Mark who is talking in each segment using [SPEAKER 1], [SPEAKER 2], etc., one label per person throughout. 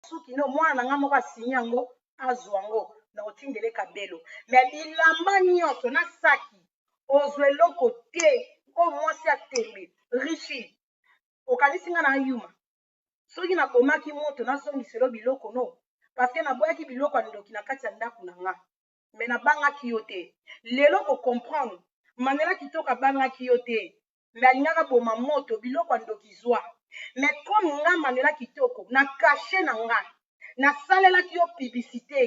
[SPEAKER 1] soki no mwana na ngai moko asinyi yango azwa yango na otindele kabelo me bilamba nyonso na saki ozwa eloko te oyo mwasi ya tembe richi okanisi ngai na yuma soki nabomaki moto nazongiselo biloko no parceke naboyaki biloko ya ndoki na kati ya ndako na ngai me nabangaki yo te lelo kocomprendre manela kitoko abangaki yo te mais alingaka boma moto biloko ya ndoki zua mais comme nga Manuela kitoko na cache na nga na salelaki yo publicite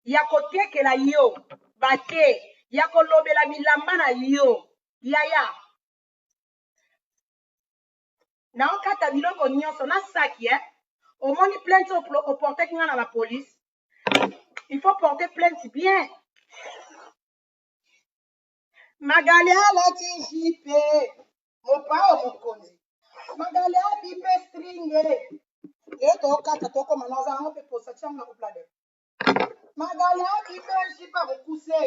[SPEAKER 1] ya ko tekela yo ba the ya ko lobela bilamba na yo yaya na okata biloko nionso na saki eh omoni plainte oyo oportaki nga na la police il faut porter plainte bien Magali alati jipe mopao mokonzi magali abipe stringe ye tokata tokoma naza yango mpe posa tiango na koplade magali abipe jipe mokuse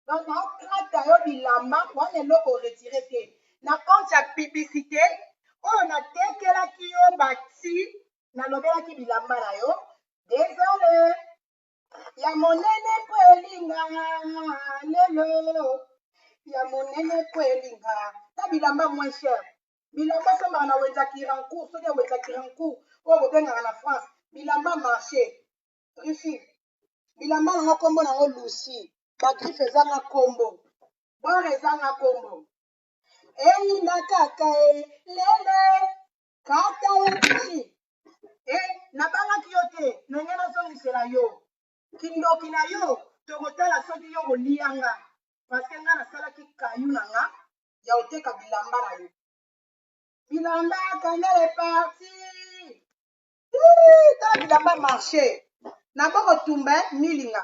[SPEAKER 1] donc nakata yo bilamba wana eloko retire te na compte ya publicité oyo natekelaki yo bati nalobelaki bilamba na yo desole ya monene mpo elinga lelo ya monene mpo elinga ta bilamba moins cher bilamba sombaka na wenza kirancourt soki ya wenza kirancourt oyo bobengaka na france bilamba marché rifi bilamba nango nkombo nango lusi bagriffe ezanga nkombo bware ezanga nkombo eyinda kaka e lele kata ye nini e eh, nabangaki yo te na ngai nazongisela yo kindoki na yo tokotala soki yo kolia nga parceke ngai nasalaki kayu na nga ya koteka bilamba na yo bilamba kanele parti tala bilamba marche naboko tumba milinga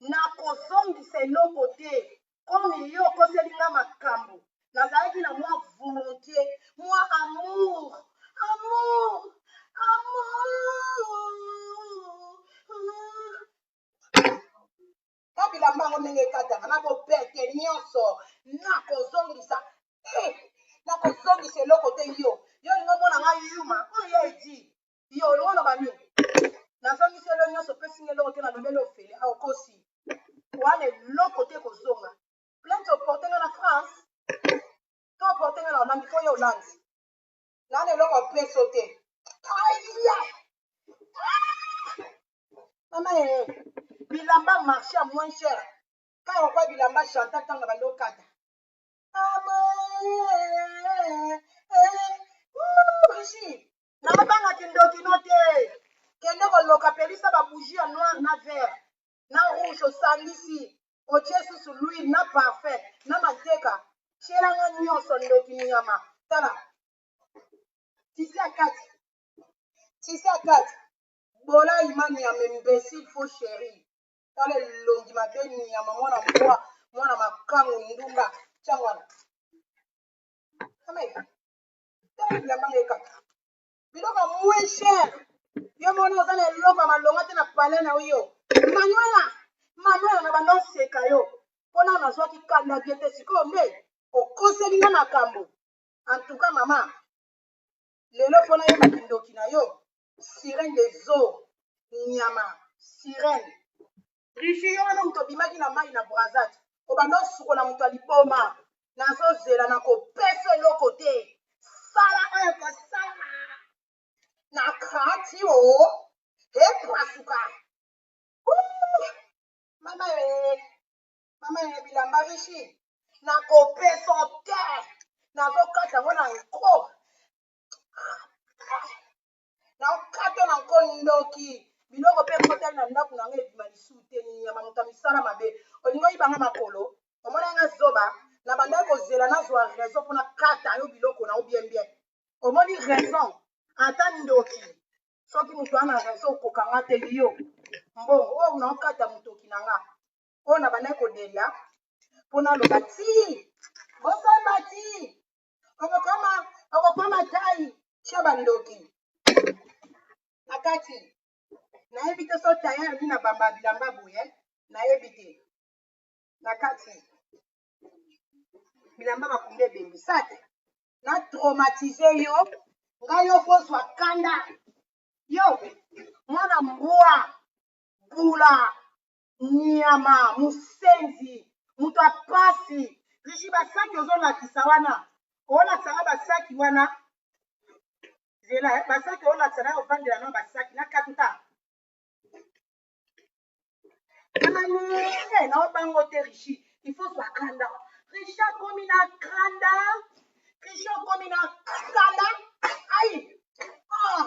[SPEAKER 1] Nakozongisa eloko te. Comme yo okoseli nga makambu, nazalaki na mwa volontie, mwa amour, amour, amour. Ba bilamba yango ndenge ekataka, nakobete nyonso, nakozongisa. Eh, nakozongisa eloko te yo. Yo olingi omona nga yuma? Oyo ya Eddy. Yo olingi oloba nini? Nazongisi yo eloko nyonso, opesi nga eloko te, nalobeli ofele awa okosi. Wana eloko te ekozonga. Plainte oporte nga na France to oporte nga na Hollande mpo yo Hollande. Nana eloko apesi yo te. Aya! Mama ee, bilamba marche ya moins cher. Kaka okoya bilamba Chantal ntango na bando okata. Mama ee, ee, ee, Brigitte. naobanga kindoki no te kende koloka pelisa babougie ya noir na vert na rouge osangisi otie susu luile na parfum na manteka tielanga nyonso ndoki nyama tala tisi ya kati tisi ya kati bola imani ya membesile fo chéri tala elongi mabe nyama mwana mbwa mwana makango ndumba tiangwana Tala bilamba na ye kaka. Biloko ya moins cher. Yo moni oza na eloko ya malonga te na palais na yo. Manuela, Manuela na banda oseka yo. Mpo nao nazwaki kanda bie te sikoyo nde okoseli nga makambo. En tout cas mama, lelo mpo nayeba kindoki na yo, sirène des eaux, nyama, sirène. Riche yo wana mutu obimaki na mayi na brazzat obanda osukola mutu ya liboma nazo zela nako pesa eloko te sala oyo kosala na kati o epasuka mama e mama e bilamba rishi nako pesa te nazo kata yango na nko na nkato na nko ndoki biloko mpe ekotali na ndako na nga ebima lisusu te nyama moto ya misala mabe olingi oyiba nga makolo omona nga zoba na bandaki kozela nazwa raison mpo nakata yo biloko na yo bien bien omoni raison ata ndoki soki moto ana raison okoka nga te yo mbongo oyo naokata motoki na nga oyo na bandaki kodelia mpo naloba ti bosamba ti okokoma okokoma tai sio bandoki na kati nayebi te so tai alobi na bamba bilamba boye nayebi te na kati bilamba bakunda ebembi sa te na traumatise yo ngai yo kozwa kanda yo mwana mbwa bula Nyama, musenzi, moto ya pasi. Rishi ba saki ozo lakisa wana, olakisa nga ba saki wana. Zela, ba saki olakisa na ovandela na ba saki na katuta. Nani, na obango te Rishi, il faut zwa kanda. Rishi akomi na kanda, Rishi akomi na kanda. Aïe! Ah!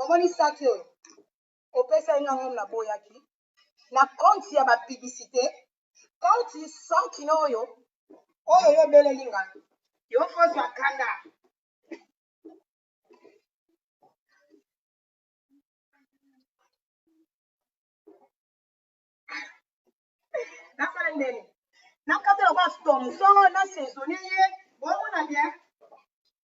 [SPEAKER 1] omoni saki oyo opesaki nga ngom na boyaki na compte ya ba publicité compte sans kino oyo oyo yo obeleli nga yo fozwa kanda nasala ndeni nakata lokola stomson na saisonne ye bomona bien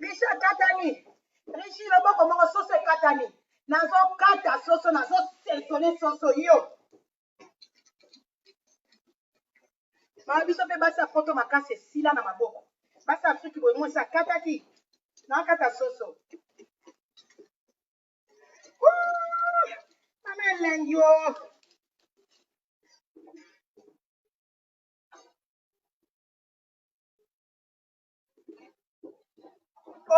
[SPEAKER 1] Michel Katani, Richie loboko moko soso ekatani. Nazokata soso, nazosaisonne soso yo. Mama biso mpe basi ya poto makasi esila na maboko. Basi ya Afriki boye mwasi akataki. Nakata soso. Mama elengi o.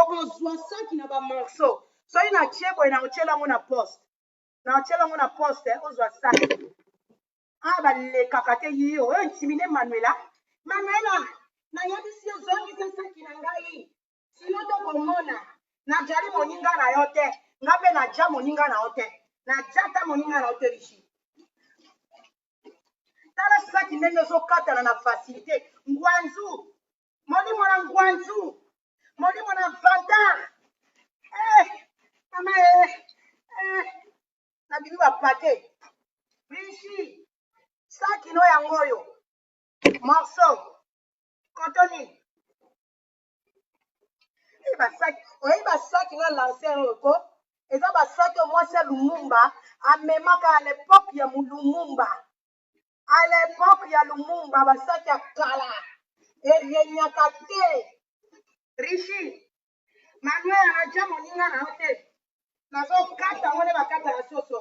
[SPEAKER 1] Okozwa saki na ba morceau. Soki na tie boye na otiela yango na poste. Na otiela yango na poste eh, ozwa saki. Ah balekaka te yiyo, oyo intimide Manuela. Manuela, nayebisi yo zongisa saki na ngai. Sino tokomona najali moninga na yo te, nga mpe naja moninga na yo te, naja ata moninga na yo te Rishi. Tala saki ndenge ezokatana na facilite. Ngwanzu, molimo na ngwanzu, molimo na vantard. Eh, mama eh, eh, nabimi bapake. Rishi, saki no yango oyo. Morceau, kotoni. oyebi basaki na lancer oyo ko eza basaki oyo mwasi ya lumumba amemaka à l'époque ya lumumba à l'époque ya lumumba basaki ya kala erenyaka te rishi manuel anaja moninga na yo te nazokata yango nde bakata ya soso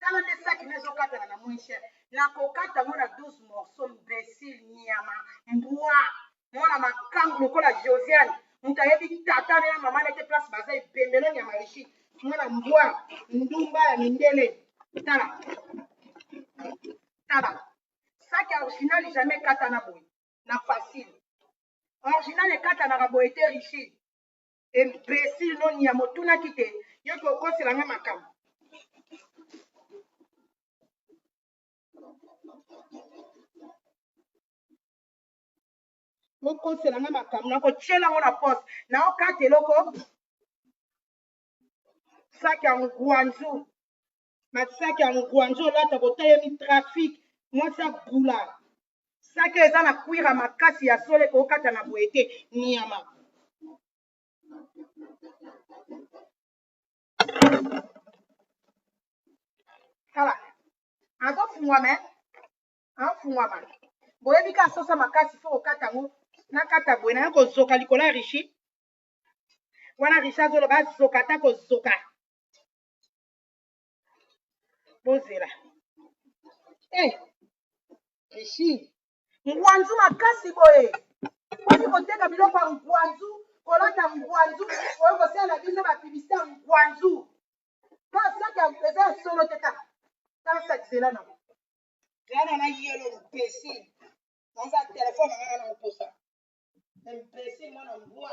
[SPEAKER 1] tala nde saki na ezokatana na moins cher nakokata ngo na 12 morceau mbesile nyama mbwa mwana makangu lokola josiane moto ayebi tata na ya mama na te place baza ebembelo nyama rishi mwana mbwa ndumba ya mindele tala tala saki ya original jamais ekata na boye na facile original ekatanaka boye te rishi imbecile no nia motunaki te yo ke okosela nga makambo okosela nga makambo nakotyela yango na poste naokata eloko saki ya ngwanzu masaki ya ngwanzo olata kotelemi trafic mwasi abula saki eza na kwira makasi ya sole kokata na boye te niama tala azofungwama afungwama boyebi ka asosa makasi fo kokata yango nakata boye naye kozoka likolo ya rishi wana rishi azoloba azoka ata kozoka bozela eh, rishi ngwanzu makasi boye ozi koteka biloko ya ngwanzu kolata ngwanzu oyo kosala biso bapibisite ya ngwanzu kasaka eza ya solo te kaka kasakisela nango yana na yelo mpesi naza telefone nanga na moposa mpesi mwana mbwa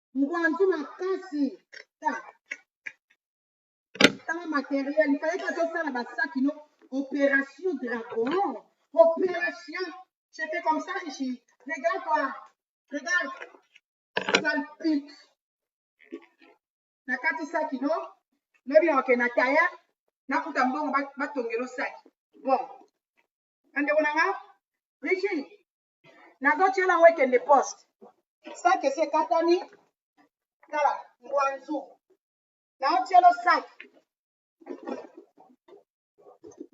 [SPEAKER 1] ngwanzu makasi ta tala materiel ifale te azosala basaki no opération dragon opération je fais comme ça ici regarde toi regarde salpit nakati saki no lobi naoke na taya nakuta mbongo batongelo saki bon bandeko na nga richi nazotiela yango ekende poste saki esi ekatami tala ngwanzu naotielo saki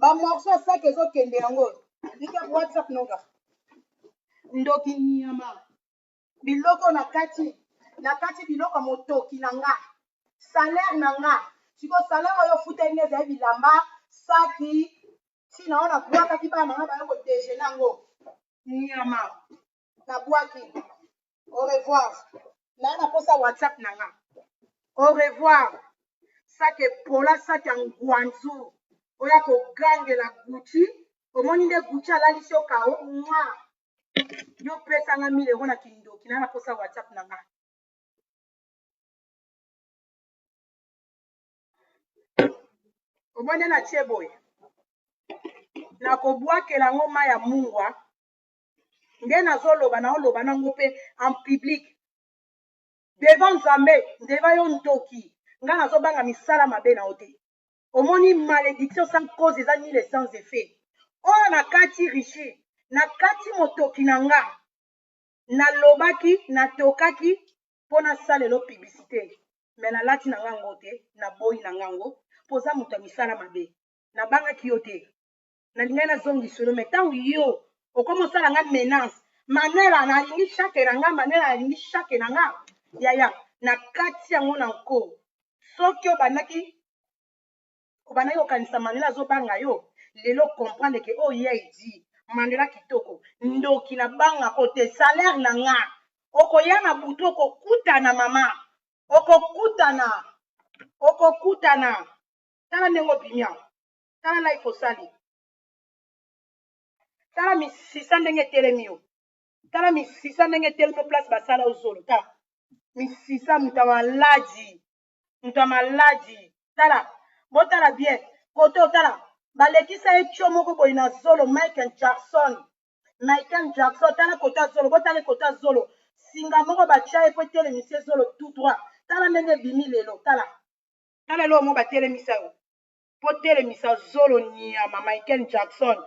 [SPEAKER 1] bamorso ya saki ezokende yango oyo nika whatsapp noga ndoki nyama biloko na kati na kati biloko motoki na nga salaire na nga siko salaire oyo ofuteli nga ezali bilamba saki si na wana bwakaki bana na nga baya ko dejeuner yango nyama na bwaki au revoir naya na posa whatsapp na nga au revoir sake pola sake ya ngwanzu oya kogangela gucci omoni nde gucci alalisi yo kao mwa yo pesa nga mile ero na kindoki naya na posa whatsapp na nga omoni na tie boye nakobwakela yango mai ya mungwa nde nazoloba naoloba nango mpe en public devant nzambe ndeva yo ntoki ngai nazobanga misala mabe na yo te omoni malédiction sans cause eza nile sans effet oyo nakati richi nakati motoki na nga nalobaki natokaki po na salela yo publicite mais na lati na nga ango te na boyi na nga ango po oza mutu ya misala mabe na bangaki yo te na lingaki na zongiso yo mais tangu yo okomi osala nga menace manela na lingi chaque na nga manela na lingi chaque na nga yaya na kati yango na nko soki obandaki obandaki kokanisa mandela azobanga yo lelo comprendre ke oyo oh, ye aidi mandela kitoko ndoki na banga ko te salaire na nga okoya na butu okokutana mama okokutana okokutana tala ndenge obimi yango tala life osali tala misisa ndenge etelemi yo tala misisa ndenge etelemi yo place basala ozolo tala misisa moto ya maladi moto ya maladi tala botala bien kote otala balekisa ye tio moko boye na zolo michael jackson michael jackson tala kote ya zolo botala kote ya zolo singa moko batya ye mpo etelemisi ye zolo tout droit tala ndenge ebimi lelo tala tala eloko moko batelemisa yo mpo telemisa zolo nyama michael jackson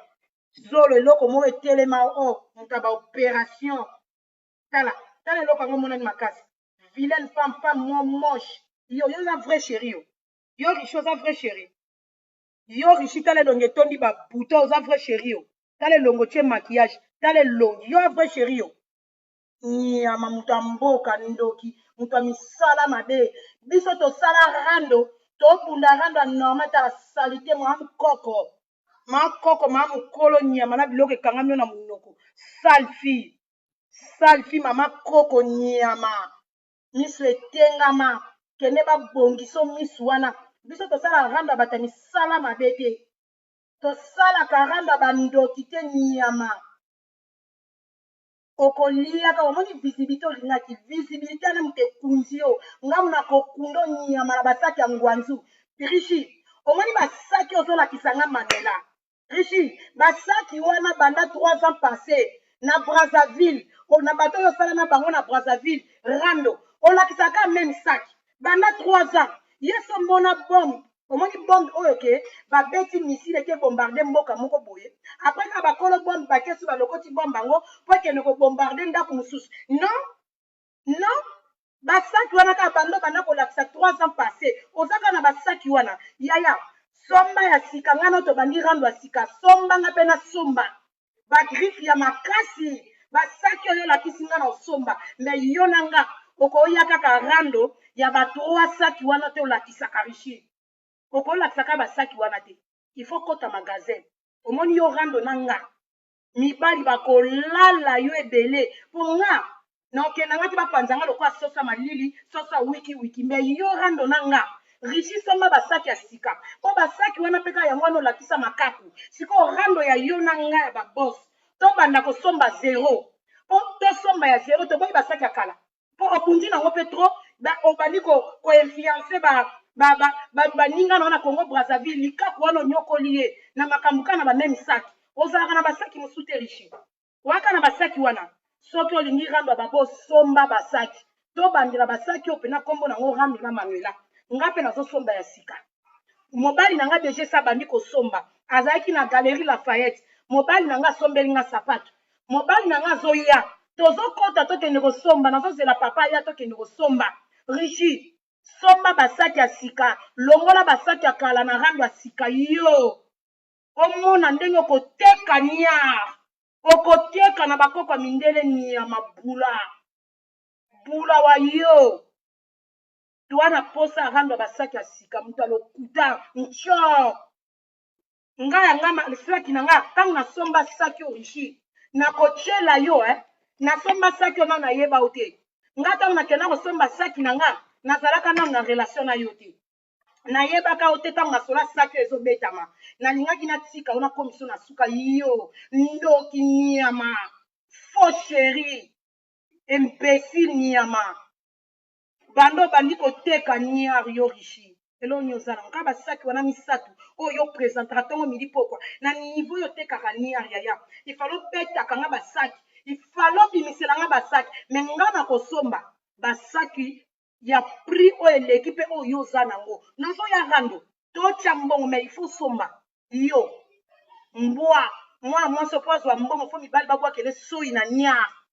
[SPEAKER 1] zolo eloko moko etelema o oh, moto ya baoperation tala tala eloko yango emonani makasi vilaine femme femme mo moche yo yo oza vrai chéri yo yo riche oza vrai chéri yo riche tala elongi etondi ba bouton oza vrai chéri yo tala elongo tie maquillage tala elongi yo vrai chéri yo nyama moto ya mboka ndoki moto ya misala mabe biso tosala rando tobunda rando ya normal tala salite mwa mkoko makoko ma mokolo nyama na biloko ekangami yo na monoko sale fille sale fille mama koko nyama misu etengama kende ba bongiso misu wana biso tosala rando ya bata misala mabe te tosala karando ya bandoki te nyama okoliaka omoni visibilité olingaki visibilité wana moto ekunzi yo ngamu na kokundo nyama na basaki ya ngwanzu brigitte omoni basaki ozolakisa nga mamela Rishi, ba saki wana banda trois ans passe na Brazzaville, na bato oyo osala na bango na Brazzaville, rando, olakisaka kaka meme sac banda trois ans. Ye se omona bombe, omoni bombe oyo ke babeti missile eke bombarde mboka moko boye, après kaka bakolo bombe bakesi balokoti bombe yango po ekende ko bombarde ndaku mosusu? Non! non basaki wana kaka bando banda kolakisa 3 ans passé oza kaka na basaki wana yaya somba ya sika ngai nao tobandi rando ya sika somba ngai mpe nasomba bagriffe ya makasi basaki oyo olakisi ngai na osomba me yo na nga okoya kaka rando ya ba 3 saki wana te olakisaka richi okolakisaka basaki wana te il faut kota magasin omoni yo rando na nga mibali bakolala yo ebele mpo nga nakokenda nga te bapanza nga lokola sosa malili sosa wiki wiki me yo rando na nga rishi somba basaki ya sika mpo basaki wana mpe kaka yango wana olakisa makaku sikoyo rando ya yo na nga ya babos tobanda kosomba zero mpo tosomba ya zero toboyi basaki ya kala po obundi na ngo pe trop ba obandi ko ko influencer ba ba ba ba baninga na na Congo Brazzaville likaku wana onyokoli ye na makambo kana ba meme sac ozalaka na ba sac mosusu te riche waka na ba sac wana soki olingi rando ba bo somba ba sac to bandela ba sac yo pena kombo na ngo rando na manuela nga pe nazo somba ya sika mobali na nga deja esi abandi kosomba azalaki na galerie lafayette mobali na nga asombeli nga sapato mobali na nga azoya tozokɔta tokende kosomba nazozela papa aya tokende kosomba rishi somba basaki ya sika longola basaki ya kala na rando ya sika yo omona ndenge okoteka niar okoteka na bakoko ya mindele niama bula bula wa yo toi na posa arando ya basaki ya sika moto ya lokuta ncior nga ya nga saki na nga ntango nasomba saki origine nakotyela yo eh? nasomba saki ona nayeba yo te nga ntango nakenda kosomba saki na nga nazalaka nano na relation na yo te nayebaka yo te ntango nasola saki oyo ezobetama nalingaki natika yo nakomiso na suka yo ndoki nyama faux chéri imbécile nyama Banda obandi koteka niar yo richi eloko nini oza nango kaka ba sac wana misatu oyo yo presentaka tongo midi pokwa na niveau oyo otekaka niar yaya il fallait obetaka nga ba sac il fallait obimisela nga ba sac mais nga nakosomba ba sac ya prix oyo eleki pe oyo yo oza nango nazoya rando totia mbongo mais il faut osomba yo mbwa mwana mwasi opo azwa mbongo fo mibali babwakele soyi na niar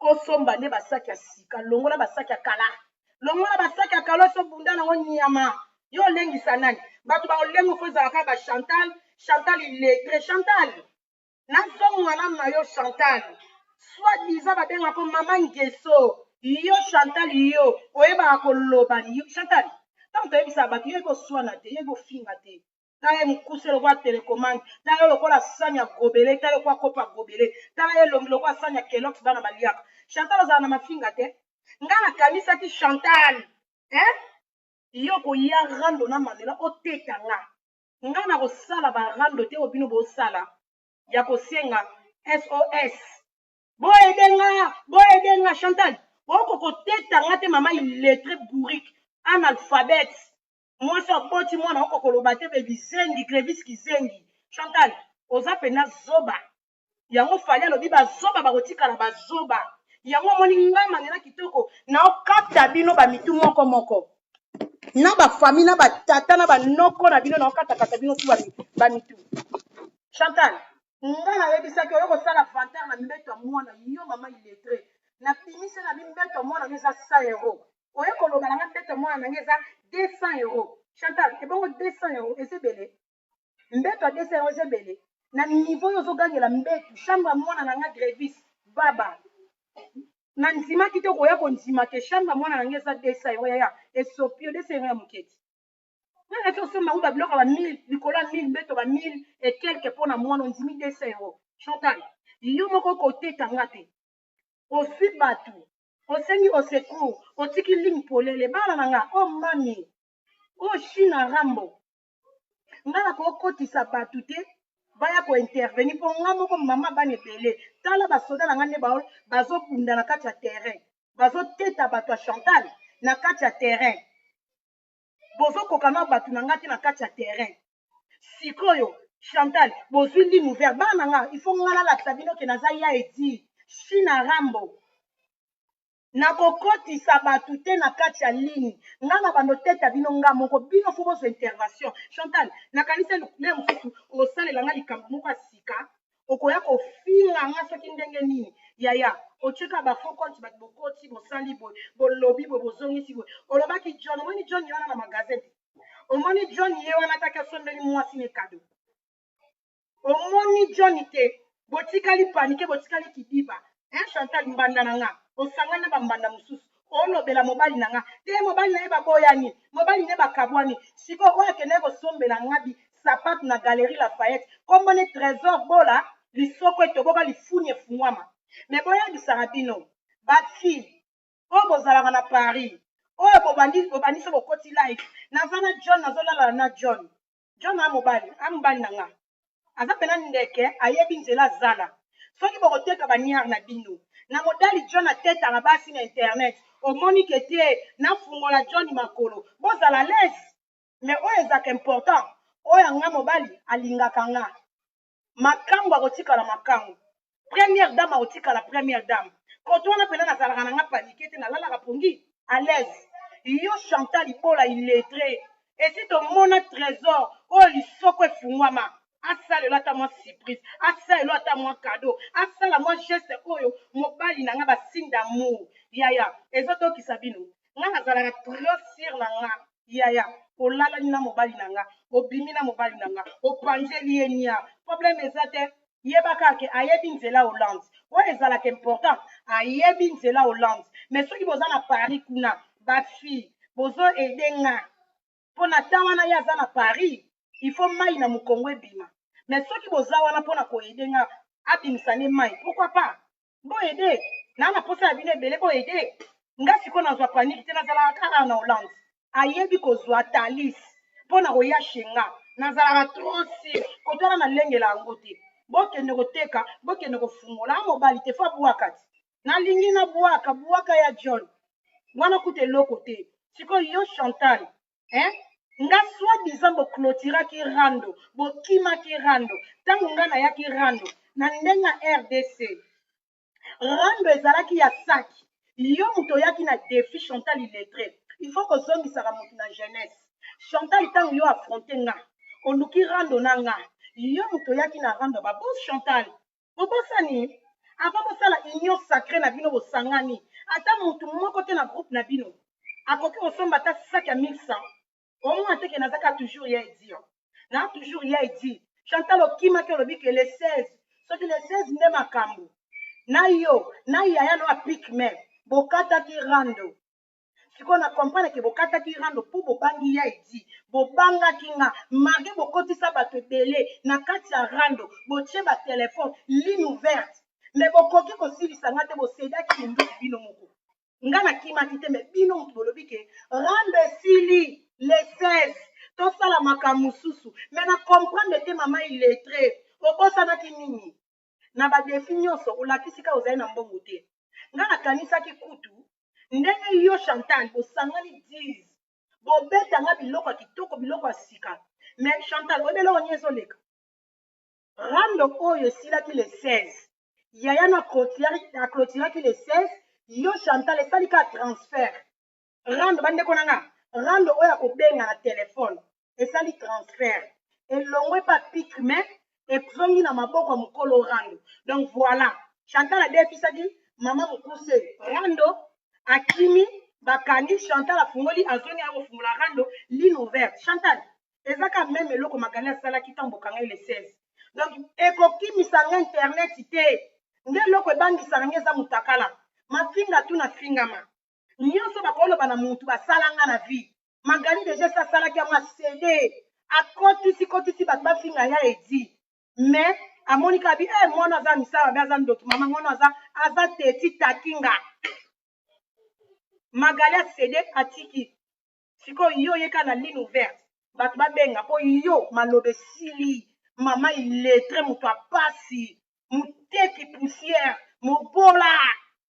[SPEAKER 1] osomba nde basaki ya sika longola basaki ya kala longola basaki ya kala oso bunda nango nyama yo olengisa nani bato baolengo fo ezala kaka ba chantal chantal iletre chantal nazongo malamu na yo chantal soit diza babengako mama ngeso yo chantal yo oyebaka koloba chantal ntango toyebisaka bato yo yekoswana te yekofinga te tala ye mokuse lokola telekomande tala yo lokola sani ya gobele tala lokola kopo ya gobele tala ye elongi lokola sani ya kelox bana baliaka chantal ozala na mafinga te ngai nakanisaki chantal eh? yo koya rando na mamela oteka nga ngai nakosala barando te oyo bino bosala ya kosenga sos boyede nga boyede nga chantal oko koteta nga te mama iletre bourrique analphabète mwasi aboti mwana oko koloba te be bizengi grevis kizengi chantal oza pena zoba yango fali alobi bazoba bakotikala bazoba yango omoni nga manela kitoko naokata bino bamitu moko moko na bafami na batata na banoko na bino naokatakata bino tu bamitu chantal nga nayebisaki oyo kosala vantar na mbeto ya mwana yo mama iletre na bimisa na bimbeto ya mwana yo eza sa euro oye koloba na nga mbete ya mwana na nga eza 200 euro chantal ebongo 200 euro eza ebele mbeto ya 200 euro eza ebele na niveau yo ozogangela mbetu chambre ya mwana na nga grevis baba na ndimaki te okoya kondima ke chambre ya mwana na nga eza 200 euro yaya esopi yo 200 euro ya moketi nanga ti osomba yango babiloko ya ba 1000 likolo ya 1000 mbeto ba 1000 e quelque mpo na mwana ondimi 200 euro chantal yo moko okoteka nga te ozwi bato Osengi au secours otiki ligne polele bana na nga oh mummy oh shina rambo nga na ko kotisa batu te baya ko intervenir po nga moko maman bana ebele tala ba soda na nga nde bazo bunda na kati ya terrain bazo teta batu ya chantal na kati ya terrain bozokoka na bato na ngai te na kati ya terrain sikoyo chantal bozwi ligne ouvert bana na nga il faut ngai nalakisa bino ke naza ya edi china rambo nakokotisa bato te na kati ya ligne ngai na bando teta bino nga moko bino fo bozwa intervention chantal nakanisa lea mosusu osalela ngai likambo moko ya sika okoya kofinga nga soki ndenge nini yaya otika ba faux compte batu bokoti bosali boye bolobi boye bozongisi boye olobaki John omoni John ye wana na magasin te omoni John ye wana ataki asombeli mwasi ne kado omoni John te botikali panike botikali kidiba Hein Chantal mbanda na nga osangani na ba mbanda mosusu olobela mobali na nga te mobali na ye baboyani mobali ne bakabwani sikoyo oyo akendaki kosombela nga bi sapatu na galerie Lafayette kombo ne Tresor Bola lisoko etoboka lifuni efungwama mais boyebisaka bino ba fille oyo bozalaka na Paris oyo bobandi bobandi so bokoti live naza na John nazolala na John John a mobali, a mobali na nga. Aza pena ndeke, ayebi nzela zala. Soki boko teka ba niar na bino. Na modali John a tetaka basi na internet. Omoni ke te na fungola Johny makolo. Bo zala alaise. Mais oyo ezaka important, oyo a nga mobali, a lingaka nga. makangu akotikala makangu première dame akotikala première dame koto wana mpena nazalaka na nga panike te nalalaka pongi à l'aise yo chantal ibola illettré esi tomona trésor oyo lisoko efungwama asalela ata mwa surprise asalela ata mwa cadeau asala mwa geste oyo mobali na nga basigne d'amour yaya ezodokisa bino nga nazalaka trop sur na nga yaya olalani na mobali na nga obimi na mobali na nga opanzeli ye nia problème eza te yeba kaka ke ayebi nzela hollande oyo ezalaka important ayebi nzela hollande mais soki boza na paris kuna bafille bozo aide nga mpo na temps wana ye aza na paris il faut mai na mokongo ebima mais soki boza wana mpo na koaide nga abimisa nde mai pourquoi pas Bo aide. Na na posa ya bino ebele bo aide. Nga sikoyo nazwa panique te nazalaka kaka awa na Hollande. Ayebi kozwa Thalys pona koya chez nga. Nazalaka trop sur koto wana nalengela yango te. Bokende koteka bokende kofungola a mobali te faut abuaka ti. Nalingi nabuaka buaka ya John wana kutu eloko te. Sikoyo yo Chantal hein nga soit disant bo clôturaki rando bokimaki rando ntango nga nayaki rando na ndenge ya rdc rando ezalaki ya saki yo moto oyaki na défi chantal illettré il faut kozongisaka moto na jeunesse chantal ntango yo affronte nga oluki rando na nga yo moto oyaki na rando babos chantal Bobosani? Avant bosala union sacree na bino bosangani, ata mutu moko te na groupe na bino akoki kosomba ata sac ya 1100. Omona te que naza kaka toujours ya Eddy? Hein? Naza toujours ya Eddy. Chantal okimaki olobi que le 16 soki le 16 nde makambu na yo na yaya na yo ya pic main bokataki rando. sikoyo na comprendre ke bokataki rando mpo bobangi ya edi bobangaki nga marge bokotisa bato ebele na kati ya rando botie batelefone ligne ouverte me bokoki kosilisa nga te bosedaki minduki bino moko nga nakimaki te me bino moto bolobi ke rando esili le 16 tosala makambo mosusu me na comprendre te mama iletre obosanaki nini na ba defis nionso olakisi kaka ozali na mbongo te nga na kanisaki kutu ndenge yo Chantal bosangani dix bobeta nga biloko ya kitoko biloko ya sika mais Chantal oyebi eloko nini ezoleka rando oyo esilaki le 16 yaya na clôturaki le 16 yo Chantal esali kaka transfert rando bandeko na nga rando oyo akobenga na telefone esali transfert elongwe epa pitre mais ezongi na maboko ya mokolo rando donc voilà chantal adefisaki mama mokuse rando akimi bakangi chantal afungoli azongi ya kofungola rando ligne ouverte chantal eza ka meme eloko magali asalaki ntango bokanga ele 16 donc ekokimisa nga internet te nde eloko ebangisaka nga eza motakala mafinga tu nafingama nionso bakoloba na mutu basala nga na vie Magali de geste asalaki yango asede akotisi kotisi batu bafinga ya edi mais amoni kaka bi eh mwana aza misala mabe aza ndoki mama mwana aza aza teti takinga Magali asede atiki sikoyo yo ye kaka na ligne ouverte bato babenga mpo yo maloba esili mama iletre moto ya pasi moteki poussière mobola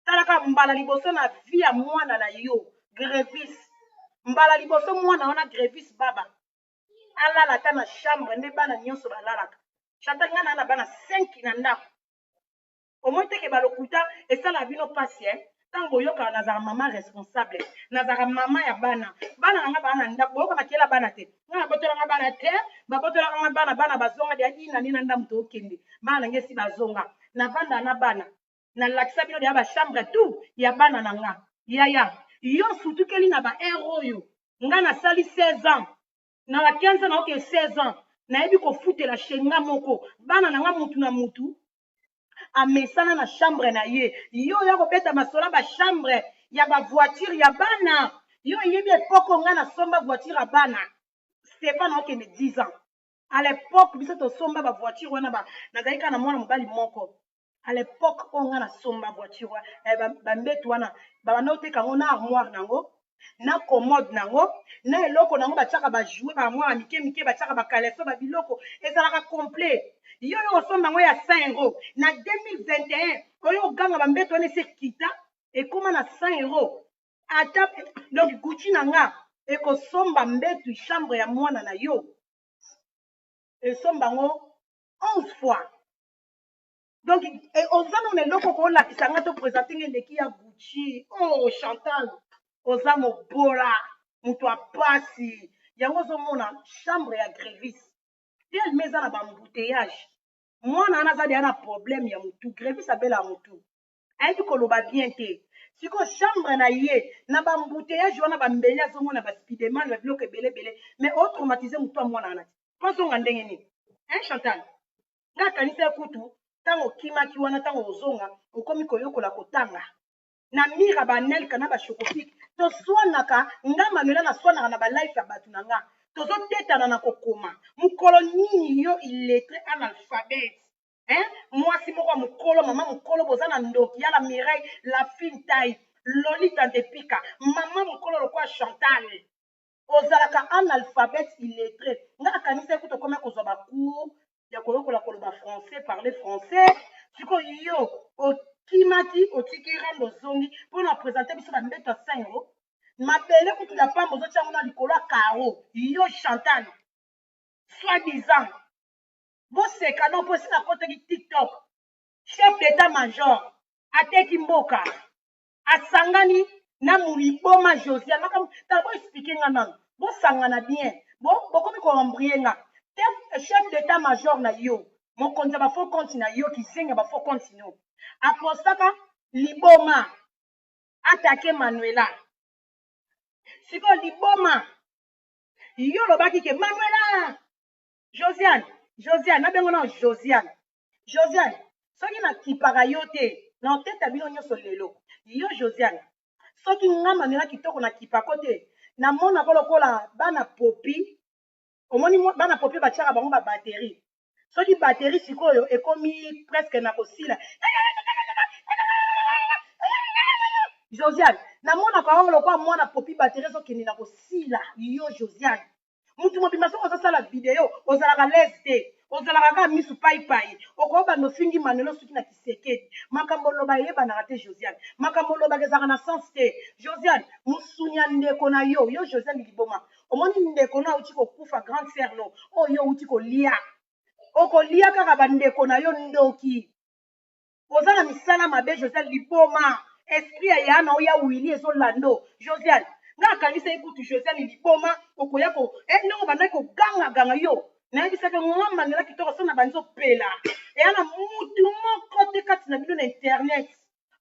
[SPEAKER 1] talaka mbala liboso na vie ya mwana na yo grevis mbala liboso mwana wana grevis baba alala ata na chambre nde bana nyonso balalaka chata ngai naa na bana 5 na ndako omoni te ke ba lokuta esalaka bino pasi eh? ntango boyokaka nazalaka mama responsable nazalaka mama ya bana bana na ngai baa na ndako boyoka makela bana te ngai nabotolanga bana te babotolaka ngai bana bana bazonga deya ina nde na ndambo tookende bana na ngai esi bazonga navanda na bana nalakisa bino deya bachambre tout ya bana na ngai yaya yo osutukeli na baheure oyo ngai nasali 16 ans na ba 15 ans naoke 16 ans nayebi kofutela shenga moko bana na ngai mutu na mutu amesana na chambre na ye yo oya kobeta masola ba chambre ya ba voiture ya bana yo oyebi epoko nga nasomba voiture ya bana stefan okende 10 ans à l'époque biso tosomba ba voiture wana ba nazali kaka na mwana mobali moko à l'époque oyo nga nasomba voiture wana eh, bambetu wana babanda oteka yango na armoire na yango na commode na yango na eloko na yango batiaka ba jouet ba mwana mike mike batiaka ba caleçon ba biloko ezalaka complet yo oyo osomba yango ya 100 euro na 2021 oyo oganga ba mbeto wana esi ekita ekoma na 100 euro ata donc gucci na nga ekosomba mbetu chambre ya mwana na yo esomba yango 11 fois donc eh, oza nano na eloko okolakisa nga to présente nga eleki ya gucci o oh, chantal oza mobola moto ya pasi yango ozomona chambre ya grevise telme eza na bambouteillage mwana wana aza deya na problème ya motu grevise abela ya motu ayebi koloba bien te sikoyo chambre na ye na bambouteillage wana bambeli azomona baspideman na biloko ebele ebele mais otraumatise motu ya mwana wana te mpo azonga ndenge nini hein chantal nga kanisaki kutu ntango okimaki wana ntango ozonga okomi koyokola kotanga na mira banelka na bashokofike toswanaka nga manuela naswanaka na balife ya bato na nga tozotetana na kokoma mokolo nini yo iletre analphabete hein? mwasi moko ya mokolo mama mokolo boza na ndoki ya la mireille la fintai lolita ntepika mama mokolo lokola chantale ozalaka analphabète illettré nga nakanisaki kutu okomi kozwa ba cours ya koyokola koloba français parler français sikoyo yo okimaki otiki rando ozongi mpo na presente biso bambeto ya sengo mabele kutu ya pamba ozotya yango na likolo ya caro yo chantal soit disant boseka no mpo esi nakotaki tiktok chef d'état major ateki mboka asangani na muliboma josia makambo tala bo explike nga nano bosangana bien bokomi ko embrouiller nga te chef d'etat major na yo mokonzi ya ba faux compte na yo kizengi ya ba faux compte no apostaka liboma atake manuela sikoyo liboma yo olobaki ke manuela josiane josiane nabengo nao josiane josiane soki nakipaka yo te na otete ya bino nyonso lelo yo josiane soki nga manuela kitoko nakipako te namonako lokola bana popi omoni bana popi batiaka bango babateri soki bateri sikoyo ekomi preske na kosila josiane namonaka yango lokola mwana popi bateri ezokende na kosila yo josiane mutu mobimba soki ozosala video ozalaka lese te ozalaka kaka misu paipai okoki banda ofingi manuel osuki na kisekedi makambo oloba eyebanaka te josiane makambo olobaka ezalaka na sens te josiane musuni ya ndeko na yo yo josiane liboma omoni ndeko no auti kokufa grande sere no oyo yo outi kolia okolia kaka bandeko na yo ndoki oza na misala mabe josiane liboma esprit ya yana oya wili ezolando josiane nga akanisaki kutu josiane liboma okoya ko eh, ndenge obandaki kogangaganga yo nayebisaki mwa manela kitoko so na banzi opela eya na mutu moko te kati na bino na internet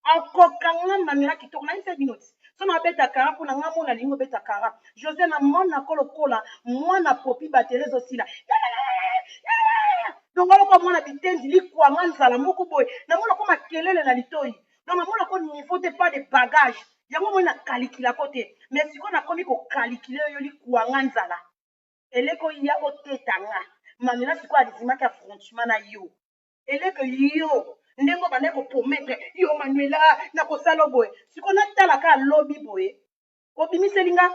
[SPEAKER 1] akokanga manela kitoko nayebisaki bino ti so nabeta kara mpo na nga mona lingi obeta kara Jose na mon nako lokola mwana popi bateri ezo sila donc aloko mwana bitendi likwanga nzala moko boye na mona ko makelele na litoyi donc na mona ko niveau te pas de bagage yango moi na kalikila ko te mais siko nakomi ko kalikile yo likwanga nzala eleko ya oteta nga mamela siko adizimaki affrontement na yo eleko yo ndenge obandaki koprometre yo manuela nakosala boye siko natalaka lobi boye obimiseli nga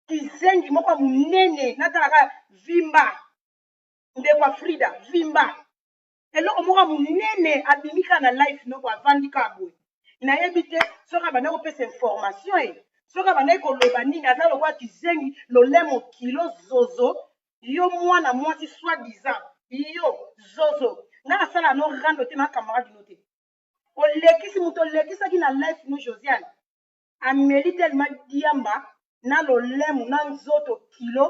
[SPEAKER 1] kizengi moko ya monene natalaka vimba ndeko ya frida vimba eloko moko ya monene abimi kaka na life noko avandi kaka boye nayebi te soki abandaki kopesa information e soki abandaki koloba nini aza lokola kizengi lolemo kilo zozo yo mwana mwasi soi disant yo zozo nga nasala no rando te na camarade no te olekisi moto olekisaki na life no josiane ameli tellement diamba na lolemu na nzoto kilo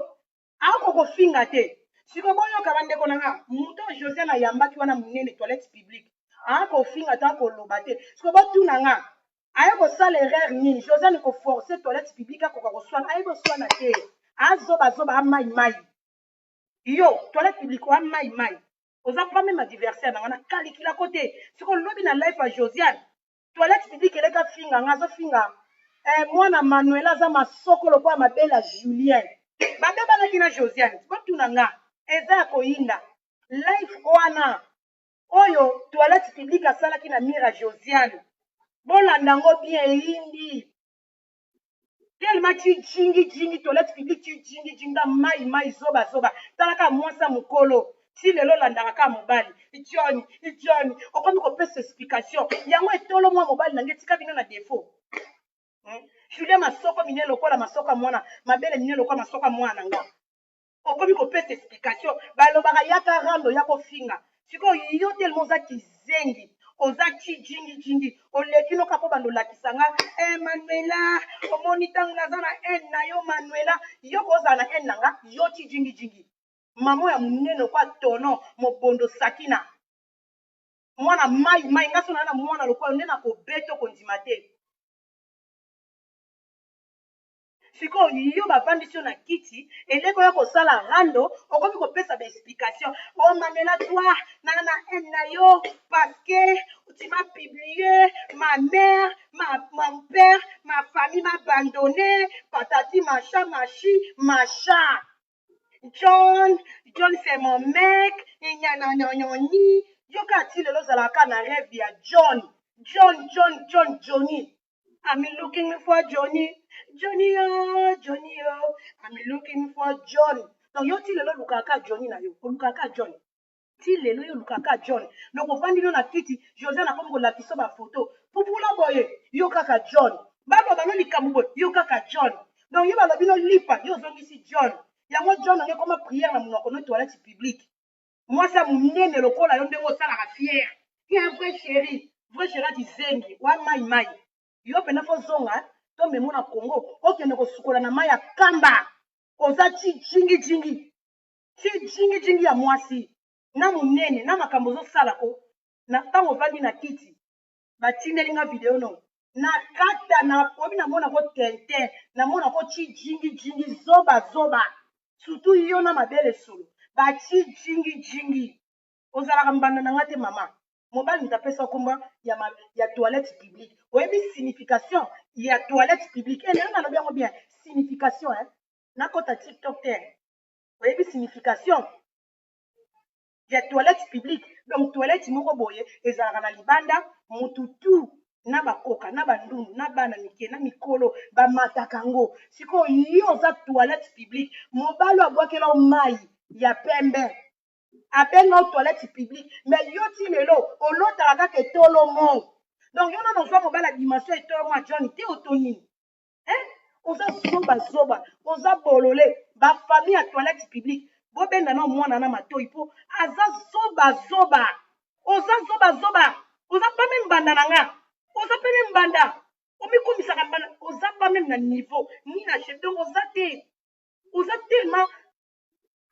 [SPEAKER 1] ako kofinga te siko boyoka ba ndeko na nga moto oyo Josiane ayambaki wana munene toilette publique aya kofinga to akoloba te siko botuna nga aya kosala erreur nini Josiane ko forcer toilette publique akoka koswana ayebi oswana te azoba zoba amai mai yo toilette publique oa mai mai oza pas meme adversaire na nga na calicula ko te siko lobi na life ya Josiane toilette publique eleki afinga nga azofinga eh, mwana manuela aza masoko lokola mabele ya julien babebanaki na josiane botuna nga eza ya koyinda life wana oyo toilette publique asalaki na mira josiane bolanda yango bien eyindi tellement tu jingi jingi toilette publique tu jingi jingi na mai mai zoba zoba tala kaka mwasi ya mokolo ti lelo olandaka kaka mobali john john okomi kopesa explication yango etolo mwa mobali na nge tika bino na defaut hmm? julia masoko mine lokola masoko ya mwana mabele mine lokola masoko ya mwana na nga okomi kopesa explication balobaka yaka rando ya kofinga sikoyo yo telema oza kizengi oza cijingijingi oleki noka mpo bando olakisa nga e eh, manuela omoni ntango naza na haine na yo manuela yo kozala na haine na nga yo cijingijingi mamo ya monene okwa tono mobondo sakina mwana mai mai nga so naa na mwana lokola nde nakobeta okondima te sikoyo yo bafandisi yo na kiti eleko ya kosala rando okomi kopesa ba explication omamela oh, toi na na haine na yo parce que tu m'as publié ma mère ma, mon père ma famille m'a abandonné patati macha machi macha john john c'est mon mec enyananyanyoni yoka ti lelo ozalaka na rêve ya john john john john johnny I'm looking for Johnny. Johnny yo, Johnny yo. I'm looking for John. Donc yo ti lelo olukaka kaka Johnny na yo. Olukaka kaka John. Ti lelo yo olukaka kaka John. Donc ofandi no na kiti, Josiane akomi kolakisa yo bafoto. Pupula boye, yo kaka John. Baloba no likambo boye, yo kaka John. Donc yo balobi no lipa, yo ozongisi John. Yango John oyo ekoma prière na monoko no toilette publique. mwasi ya monene lokola yo ndenge osalaka fiere tu un vrai chéri vrai chéri ati zengi wa mai mai yo mpena fo zonga to memo na congo okende kosukola na mai ya kamba oza chijingi jingi chijingi jingi ya mwasi na monene na makambo ozosala ko na ntango ovandi na kiti batindeli nga video no nakata na pomi namona ko tintin namona ko ti jingi jingi zoba zoba surtout yo na mabele solo bati jingi jingi ozalaka mbanda na nga te mama mobali moto apesa nkombo ya, ma, ya toilette publique oyebi signification ya toilette publique e eh, lelo nalobi yango bien signification eh? nakota tiktok te oyebi signification ya toilette publique donc toilette moko boye ezalaka na libanda mutu tout na bakoka na bandundu na bana mike na mikolo bamataka yango sikoyo yo oza toilette publique mobali abwakela o mai ya pembe abenga o toilette publique me yo ti lelo olotaka kaka etolo mo donc yo nano ozwa mobali ya dimension etolo mo ya john te oto nini eh? oza zoba zoba oza bolole ba famille ya toilette publique bobenga na mwana na matoi mpo aza zoba zoba oza zoba zoba oza pa meme mbanda na nga oza pe meme mbanda omikomisaka mbanda oza pa meme na niveau ni na chef
[SPEAKER 2] donc oza te oza tellement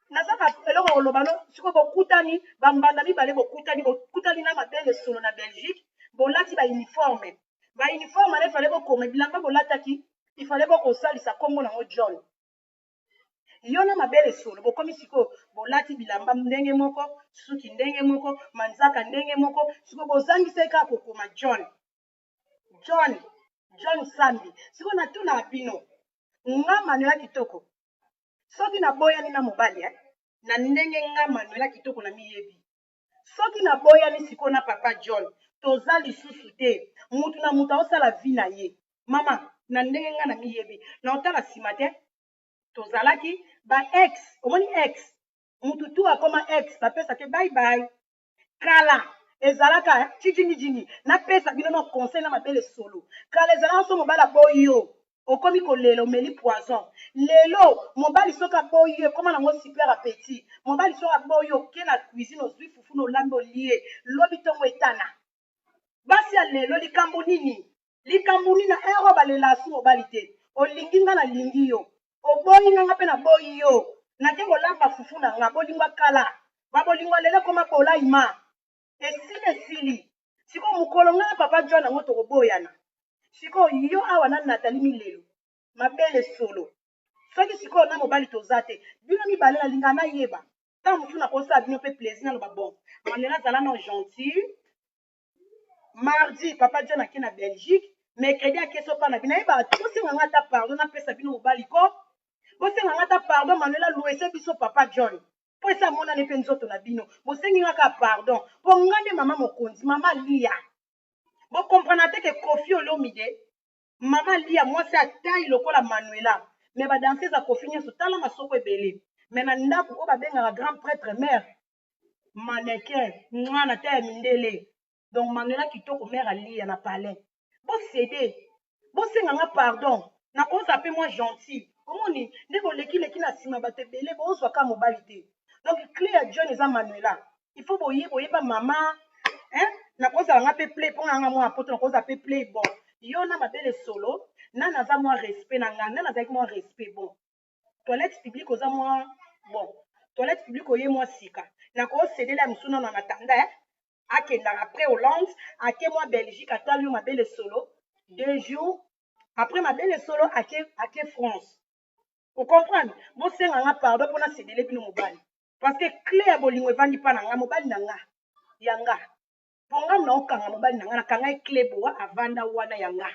[SPEAKER 2] naza na eloko ya koloba no sikoyo bokutani bambanda mibale bokutani bokutani na mabele solo na belgique bolati bauniforme bauniforme wana ifale bokoma bilamba bolataki ifale bokosalisa nkombo nango john yo na mabele solo bokomi sikoyo bolati bilamba ndenge moko suki ndenge moko manzaka ndenge moko sikoyo bozangisaki kaka kokoma john john john sambi sikoyo natunaka bino nga manuela kitoko soki naboyani na mobali eh? na ndenge nga manuela kitoko na miyebi soki naboyani sikoyo na papa john toza lisusu te mutu na mutu aosala vi na ye mama na ndenge nga na miyebi na otala nsima te tozalaki ba ex omoni ex mutu tu akoma ex bapesa te bye bye kala ezalaka eh, chijingi jingi napesa bino no conseil na mabele solo kala ezalaka so mobali aboyi yo okomi kolela omeli poison lelo mobali soki aboyi yo ekoma nango super appetit mobali soki aboyi yo oke na cuisine ozwi fufu na olambi olie lobi ntongo etana basi ya lelo likambo nini likambo nini na ero balela asu mobali te olingi nga nalingi yo oboyi nga nga mpe naboyi yo nake kolamba fufu na nga bolingo ya kala babolingo ya lelo ekoma bolai ma esili esili sikoyo mokolo nga na papa john yango tokoboyana sikoyo yo awa na natali milelo mabele solo soki sikoyo na mobali toza te bino mibale nalinga nayeba ntango mosusu nakosala bino mpe plaisir naloba bon manuela zala no gentil mardi papa john ake na belgique mercredi ake sopa na bino ayebaka te bosenga nga ata pardon napesa bino mobali ko bosenga nga ata pardon manuela luese biso papa john mpo esi amonani mpe nzoto na bino bosengi nga kaka pardon mpo nga nde mama mokonzi mama liya bokomprana te ke kofi olomide mama lia mwasi ya taille lokola manuela mais ba danseuse ya kofi nionso tala masoko ebele mais na ndaku oyo babengaka grand pretre mère manequin mwa na taille ya mindele donc manuela kitoko mère alia na palais bosede bosenga nga pardon nakozala mpe mwa gentil omoni nde bolekileki na nsima bato ebele bozwa ka mobali te donc clé ya john eza manuela il faut boye boyeba mama hein nakozala nga pe play mpo nanga mwana poto nakozala pe play bon yo na mabele solo na naza mwa respect na nga na nazalaki mwa respect bon toilette publique oza mwa bon toilette publique oye mwa sika nakosedela ya mosusu nano na tanda eh? akendaka après hollande ake mwa belgique atwali yo mabele solo deux jours après mabele solo ake, ake france okomprendre bosenga nga pardon mpo nasedele bino mobali parce que cle ya bolingo evandi mpa na nga mobali na nga ya nga mpo nga na okanga mobali na nga na kanga ye cle boa avanda wana ya nga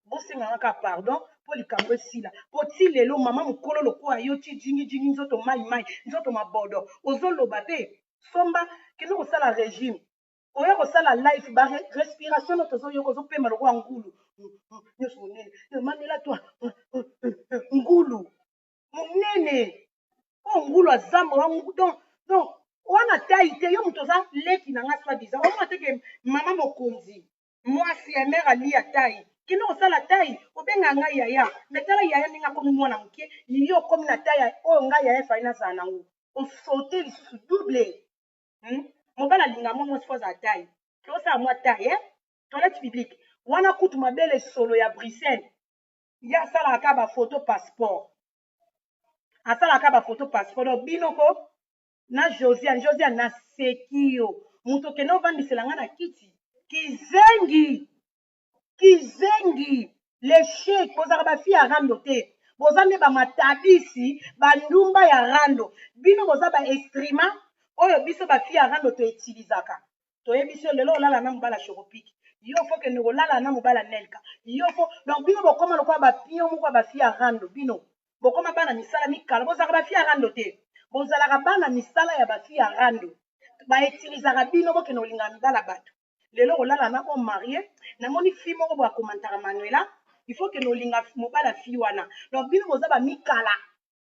[SPEAKER 2] bosenga nga kaka pardon mpo likambo esila mpo ti lelo mama mokolo lokola yo ti jingi jingi nzoto mai mai nzoto mabodo ozoloba te somba kende kosala regime oya kosala life ba respiration no tozoyoka ozopema lokola ngulu nyonso monene manela twa ngulu monene oyo oh, ngulu azamba donc donc wana tai te yo moto oza leki na nga soi disant omona te ke mama mokonzi mwasi ya mare aliya tai kende kosala tai obenga ngai yaya me tala yaya ndenge akomi mwana moke yo okomi na tai oyo ngai yaya efai nazala nango osote lisusu double hmm? mobali alinga mwa mwasi fo azala tai tosala mwa tai eh? toilette publique wana kutu mabele solo ya bruxelles ye asalaka kaka bafoto passeport asalaka kaka bafoto passeport donc bino ko na josiane josiane naseki yo moto okende ovandisela ngai na kiti kizengi kizengi lechek bozalaka bafi ya rando te boza nde bamatabisi bandumba ya rando bino boza baestrima oyo biso bafi ya rando toetilizaka toyebi se lelo olala na mobala chocopic yo fo kende kolala na mobala nelka yo fo donc bino bokoma lokola bapio moko ya bafi ya rando bino bokoma bana misala mikala bozalaka bafi ya rando te bozalaka bana misala ya bafi ya rando baetilisaka bino bokende kolingaka mibala bato lelo kolala na homme marie namoni fi moko boya komantaka manuela il faut kende olinga mobala fi wana donc bino boza bamikala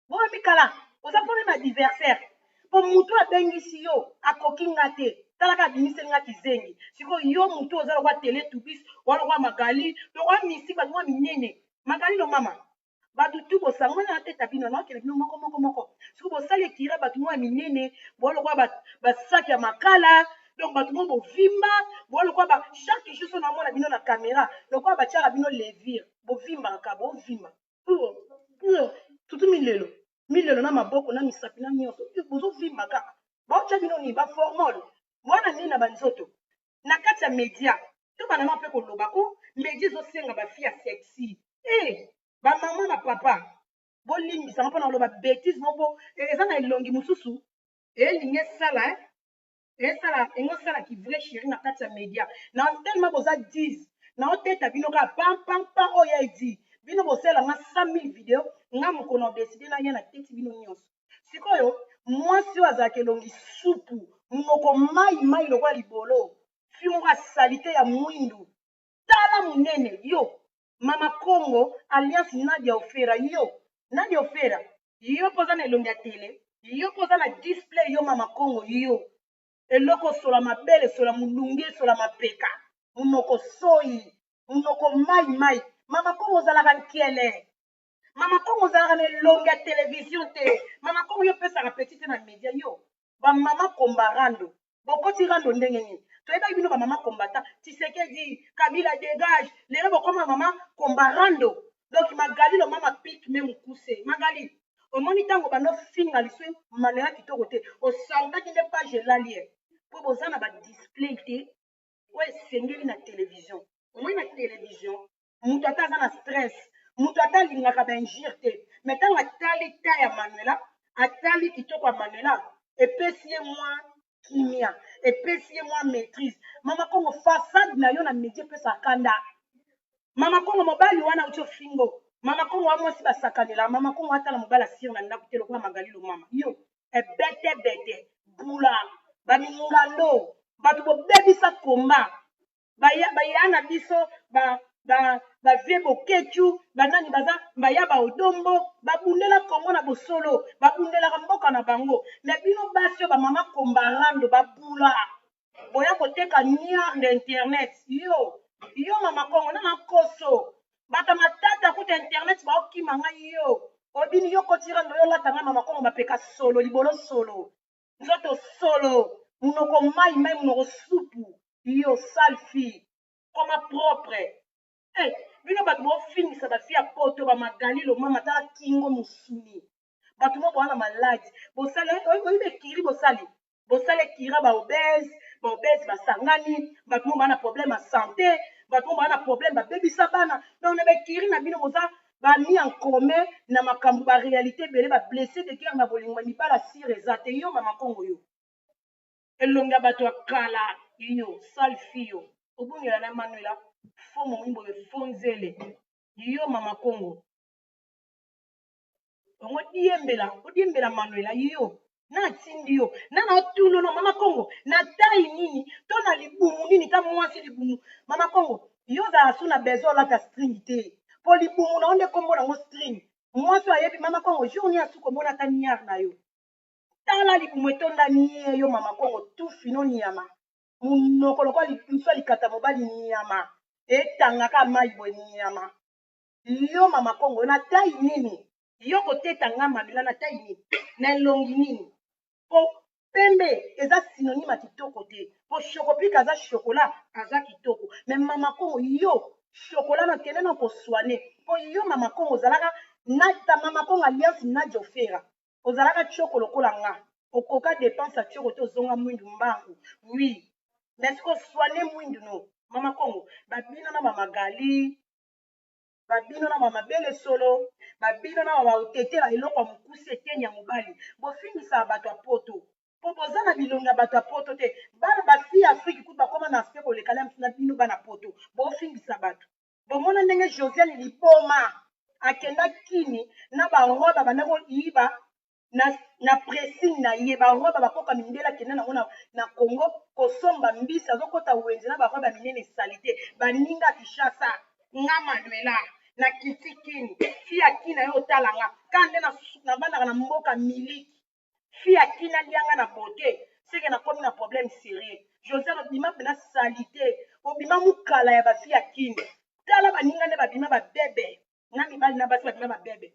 [SPEAKER 2] boye mikala oza problème ya diversaire po mutu abengisi yo akoki nga te talaka abimiseli nga kizengi sikoyo yo mutu oza lokwa tele tubis oa lokwa magali to oa misi bato mwa minene magali lo mama bato tu bosangoli na teta bino naokele bino moko moko moko siko bosali ekira bato mwa minene boa lokwa basaki ya makala donc bato mwa bovimba boa lokwa ba chaque jour so namona bino na kamera lokwa batiaka bino levire bovimbaka bovimba pure pure tutu milelo milelo na maboko na misapi na nyonso bozovimba kaka baotya bino nini baformol mwana nini na banzoto na kati ya media to banama mpe koloba o oh, media ezosenga bafi ya sexy e eh, bamama na papa bolimbisanga mpo na koloba betise moko eh, eza na elongi mosusu elingi esala eh? esala engo sala ki vrai chéri na kati ya media na tellement boza 10 na oteta bino ka pam pam pam oh ya edi bino bosala nga 100000 video nga moko na décider na ya na teti bino nyonso sikoyo mwasi oyo azalaka elongi supu munoko mai mai lokola libolo fi moko ya salite ya mwindu tala munene yo mama kongo alliance nadia ofera yo nadia ofera yo poza na elongi ya tele yo poza na display yo mama kongo yo eloko sola mabele sola mulunge sola mapeka munoko soyi munoko mai mai mama kongo ozalaka nkele mama kongo ozalaka na elongi ya televizio te mama kongo yo opesaka peti te na media yo bamama komba rando bokoti rando ndenge nini toyebaki bino bamama kombata tisekedi kabila degage lelo bokoma mama komba rando donc magali loma mapik me mokuse magali omoni ntango banofinga liso manela kitoko te osaltaki nde page elali ye mpo boza na badisplay te oyo esengeli na televizio omoni na televizio mutu ata aza na stress mutu ata alingaka ba injure te mais ntango atali ta ya manuela atali kitoko ya manuela epesi ye mwa kimia epesi ye mwa maîtrise mama kongo façade na yo na media epesa kanda mama kongo mobali wana auti ofingo mama kongo wa mwasi basakanela mama kongo atala mobali asire na ndako te lokola magali lomama yo ebetebete bula bamingando bato bobebisa komba baya baya na biso ba ba ba vie bokechu banani baza baya ba odombo babundela kongo na bosolo babundelaka mboka na bango me bino basi oyo bamama kombarando babula boya koteka niar na internet yo yo mama kongo na makoso bata matata kuta internet baokima ngai yo obini yo kotirando yo olata ngai mama kongo mapeka solo libolo solo nzoto solo munoko mai mai munoko supu yo sale fille koma propre eh, bino bato bofingisa bafi ya poto bamagali lomama tala kingo mosuni bato mo bowana maladi bosali oyebi ekiri bosali bosali ekira baobese baobese basangani bato mo baa na problème ya sante bato mo baa na problème babebisa bana donc na baekiri na bino boza ba mis en commun na makambu ba realite ebele ba blesse de guerre na bolingo mais mibala sire eza te yo mama kongo yo elongi ya batu ya kala yo sale fille yo obungela na manuela faux momi boye faux nzele yo mama kongo ongo diembela odiembela manuela yo natindi yo na naotuna no mama kongo na tai nini to na libumu nini ta mwasi libumu mama kongo yo ozala su na besoin olata string te mpo libumu na yo nde nkombo nango string mwasi oyo ayebi mama kongo jour nini asuki omona ata niar na yo tala libumu etonda nie yo mama kongo tufi no niama monoko lokola liso ya likata mobali niama etangaka mai boye niama yo mama kongo na tai nini yo koteta nga mamela na tai nini na elongi nini po pembe eza synonyme ya kitoko te po shokopika aza shokola aza kitoko me mama kongo yo shokola na kende na koswane po yo mama kongo ozalaka na ta mama kongo alliance nadia ofera ozalaka tioko lokola nga okoka depense ya tioko te ozonga mwindu mbangu wi mais koswane mwindu no mama kongo babina na bamagali ba bino na ba mabele solo ba bino na ba baotetela eloko ya mokuse eteni ya mobali bofingisaka bato ya poto po boza na bilongi ya bato ya poto te bana ba fille afrique kutu bakoma na aspect koleka na biso na bino bana poto bofingisa bato bomona ndenge josiane liboma akenda kini na ba roi babanda koyiba na, na pressing na ye barobe ya bakoka mindele akenda nango na, na congo kosomba mbisi azokota wenze na barobe ya minene salite baninga kishasa nga manuela na kiti kin fi ya kin na yo otala nga kaa nde nabandaka na mboka miliki fi ya kin alia nga na bote seke nakomi na problème sérieux josé obima mpena salite obima mokala ya bafi ya kin tala baninga nde babima babebe na mibali na basi babima babebe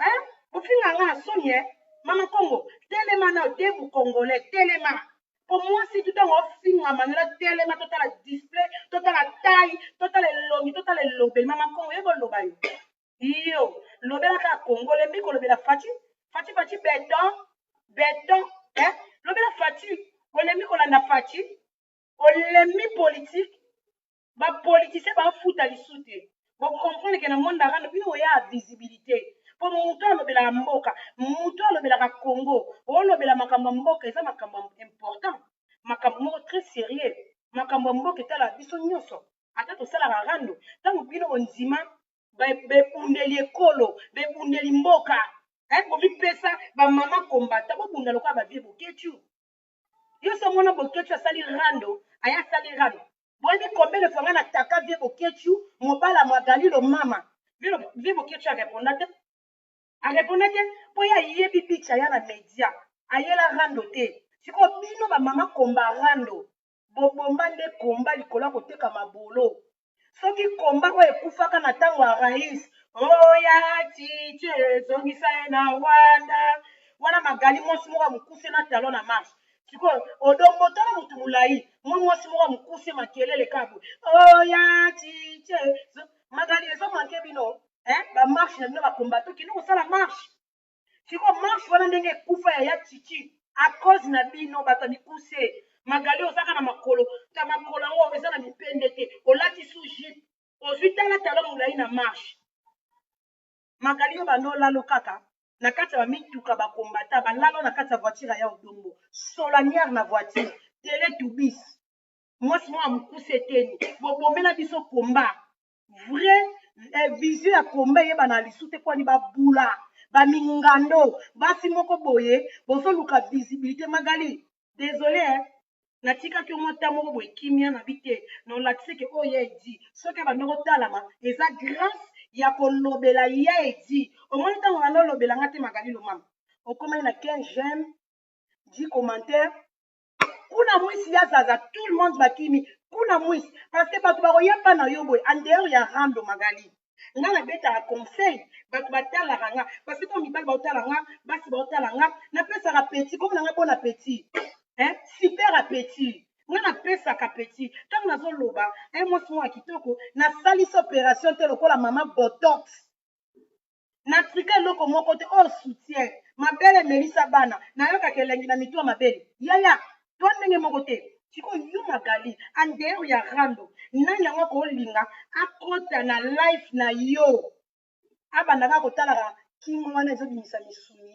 [SPEAKER 2] hein bofinga nga na soni eh mama kongo telema na debu congolais telema po mwasi tu ntango ofinga manola telema totala display totala tai totala elongi totala elobeli mama kongo ye boloba yo iyo lobela kaka kongo olembi kolobela faci faci faci beton beton eh lobela faci olembi kolanda faci olembi politike ba politicien ba futa lisu te boko comprendre ke na monde arano bino boya visibilité po mutu alobelaka mboka mutu alobelaka congo olobela makambo ya mboka eza makambo important makambo moko très sérieux makambo ya mboka etalaka biso nyonso ata tosalaka rando ntango bino bondima bebundeli ekolo bebundeli mboka eh, bomipesa bamama kombata bobunda lokola bavie boketu yo so mona boketshu asali rando aya asali rando boyebi combien de fois nga na taka vie boketshu mobala magali lo mama vie boketshu areponda te areponda te mpo ye ayebi bicha aya na media ayela rando te sikoyo bino bamama komba rando bobomba nde komba likolo ya koteka mabolo soki komba oyo ekufaka na ntango ya rais oya titie ezongisa ye na rwanda wana magali mwasi moko ya mokuse na talon na marche sikoyo odongo tala motu molai mwa mwasi moko ya mokuse makelele kabwe oya titie magali ezomanke bino eh, bamarche na bino bakombatoki nokosala marche siko marche wana ndenge ekufa ya ya chichi a cause na bino bato ya mikuse magali ozaka na makolo ta makolo yango eza na mipende te olati sous jupe ozwi tala talon molai na marche magali yo banda olalo kaka na kati ya bamituka bakombata balalo na kati ya voiture ya ya odongo solaniere na voiture tele tubis mwasi moko ya mokuse eteni bobomela biso komba vrai eh, vision ya combat eyeba na lisu te kwani babula bamingando basi moko boye bozoluka visibilité magali désolé eh? natikaki yo mwa ntan moko boye kimia na bite na olakisi ke oyo ya edi soki abanda kotalama eza grâce ya kolobela ya edi omoni ntango banda olobela nga te magali lomama okomaki na 15 j'aime 10 commentaire kuna mwisi ya zaza tout le monde bakimi kuna mwisi parce que bato bakoya mpa na yo boye en dehors ya rando magali nga nabetaka conseil bato batalaka nga parce que ntango mibali baotala nga basi baotala nga napesaka petit komona nga bona petit hein? super appetit nga napesaka petit ntango nazoloba un mwasi moko ya kitoko nasalisi opération te lokola mama botox na trika eloko moko te oyo soutien mabele melisa bana nayokaka elengi na mitu ya mabele yaya to ndenge moko te sikoyo yo magali en dehors ya rando nani yango akolinga akota na life na yo abanda kaka kotalaka kingo wana ezobimisa misuni